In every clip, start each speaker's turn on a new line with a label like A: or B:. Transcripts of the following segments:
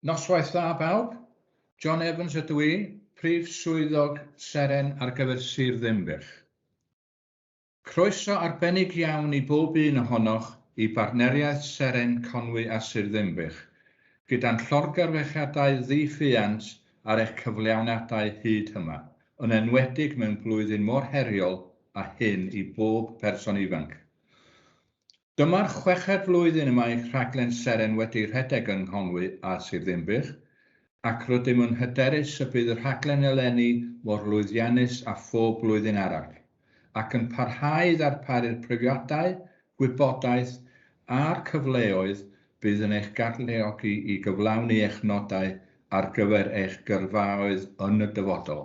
A: Noswaith dda bawb, John Evans ydw i, Prif Swyddog Seren ar gyfer Sir Ddinbych. Croeso arbennig iawn i bob un ohonoch i bartneriaeth Seren Conwy a Sir Ddinbych, gyda'n llorgarwechiadau ddi-ffiant ar eich cyflawniadau hyd hyma, yn enwedig mewn blwyddyn mor heriol a hyn i bob person ifanc. Dyma'r chweched flwyddyn y mae rhaglen Seren wedi rhedeg yng Nghonwy a Sir Ddinbych, ac rydym yn hyderus y bydd y rhaglen eleni mor lwyddiannus â phob blwyddyn arall, ac yn parhau i ddarparu'r profiadau, gwybodaeth a'r cyfleoedd bydd yn eich galluogi i gyflawni eich nodau ar gyfer eich gyrfaoedd yn y dyfodol.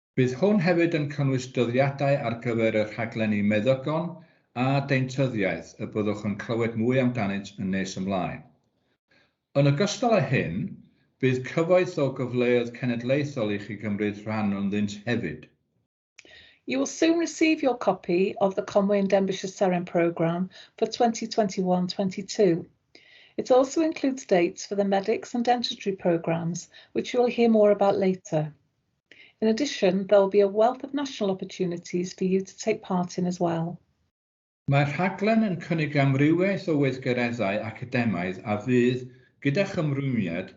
A: Bydd hwn hefyd yn cynnwys dyddiadau ar gyfer y rhaglenni meddygon a deintyddiaeth y byddwch yn clywed mwy amdanynt yn nes ymlaen. Yn ogystal â hyn, bydd cyfoeth o gyfleoedd cenedlaethol i chi gymryd rhan ynddynt hefyd.
B: You will soon receive your copy of the Conwy and Denbighshire Seren programme for 2021-22. It also includes dates for the Medics and Dentistry programmes, which you will hear more about later. In addition, there will be a wealth of national opportunities for you to take part in as well. Mae'r
A: rhaglen yn cynnig amrywiaeth o weithgareddau academaidd a fydd, gyda'ch ymrwymiad,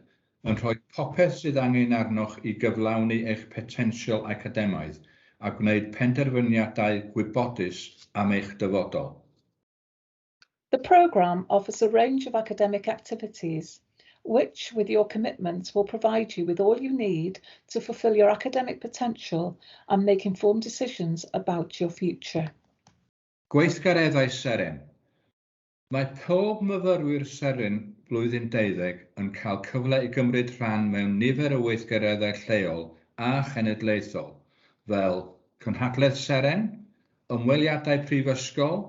A: yn rhoi popeth sydd angen arnoch i gyflawni eich potensial academaidd a gwneud penderfyniadau gwybodus am eich dyfodol.
B: The programme offers a range of academic activities which, with your commitment, will provide you with all you need to fulfil your academic potential and make informed decisions about your future.
A: Gweithgareddau Seren Mae pob myfyrwyr Seren blwyddyn 12 yn cael cyfle i gymryd rhan mewn nifer o weithgareddau lleol a chenedlaethol, fel Cynhadledd Seren, ymweliadau prifysgol,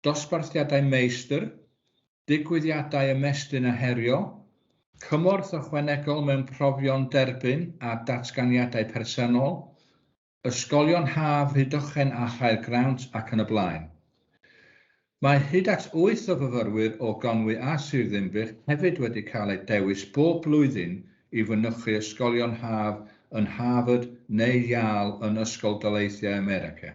A: dosbarthiadau meistr, digwyddiadau ymestyn a herio, cymorth ychwanegol mewn profion derbyn a datganiadau personol, ysgolion haf, Rhydychen a Chaer Grawnt ac yn y blaen. Mae hyd at wyth o fyfyrwyr o Gonwy a Sir Ddinbych hefyd wedi cael eu dewis bob blwyddyn i fynychu ysgolion haf yn Harvard neu Yale yn Ysgol Daleithiau America.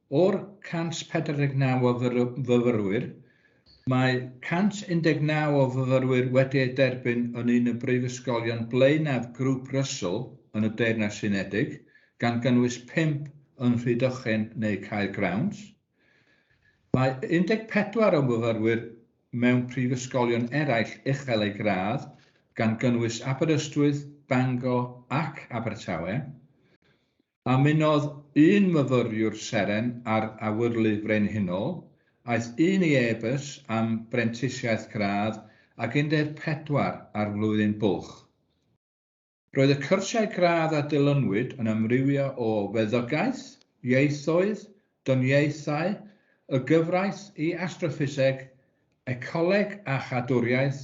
A: O'r 149 o fyfyrwyr, mae 119 o fyfyrwyr wedi eu derbyn yn un o brifysgolion blaenaf Grŵp Russell yn y Deyrnas Unedig, gan gynnwys pump yn Rhydychen neu Caer Grawnt. Mae 14 o fyfyrwyr mewn prifysgolion eraill uchel eu gradd, gan gynnwys Aberystwyth, Bangor ac Abertawe. A mynnodd un myfyriwr seren ar Awyrlu Frenhinol, aeth un i e-bus am brentisiaeth gradd ac 14 ar flwyddyn bwlch. Roedd y cyrsiau gradd a dilynwyd yn amrywio o feddygaeth, ieithoedd, dyniaethau, y gyfraith i astroffiseg, ecoleg a chadwriaeth,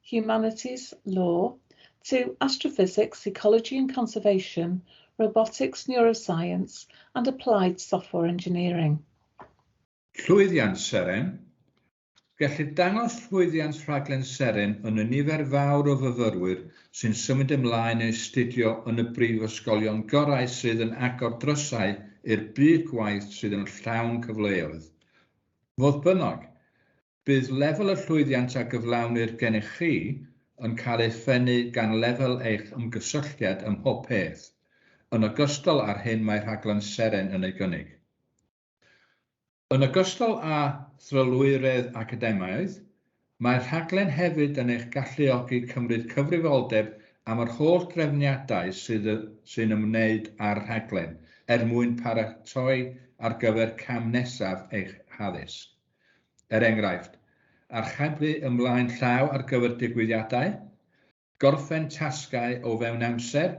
B: Humanities, Law, to Astrophysics, Ecology and Conservation, Robotics, Neuroscience and Applied Software Engineering.
A: Llwyddiant Seren, Gellir dangos llwyddiant rhaglen Seren yn y nifer fawr o fyfyrwyr sy'n symud ymlaen i astudio yn y brifysgolion gorau sydd yn agor drysau i'r byd gwaith sydd yn llawn cyfleoedd. Fodd bynnag, Bydd lefel y llwyddiant a gyflawnir gennych chi yn cael ei phennu gan lefel eich ymgysylltiad ym mhob peth, yn ogystal â'r hyn mae rhaglen Seren yn ei gynnig. Yn ogystal â thrylwyredd academaidd, mae'r rhaglen hefyd yn eich galluogi cymryd cyfrifoldeb am yr holl drefniadau sydd sy'n ymwneud â'r rhaglen er mwyn paratoi ar gyfer cam nesaf eich haddysg. Er enghraifft, archebu ymlaen llaw ar gyfer digwyddiadau, gorffen tasgau o fewn amser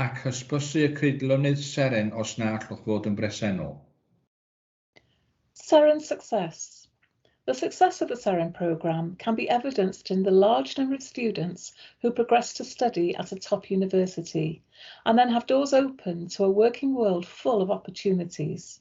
A: ac hysbysu y creidlonydd seren os na allwch fod yn bresennol.
B: Seren Success The success of the Seren programme can be evidenced in the large number of students who progress to study at a top university and then have doors open to a working world full of opportunities.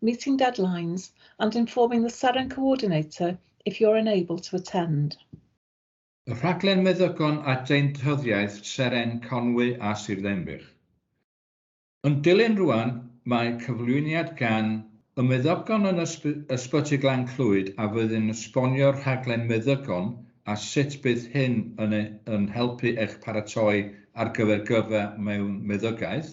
B: meeting deadlines and informing the SAREN coordinator if you're unable to attend. Y
A: rhaglen meddygon a deintyddiaeth SAREN Conwy a Sir Ddinbych. Yn dilyn rwan mae cyflwyniad gan y meddygon yn Ysbyty Glan Clwyd a fydd yn esbonio'r rhaglen meddygon a sut bydd hyn yn yn helpu eich paratoi ar gyfer gyrfa mewn meddygaeth.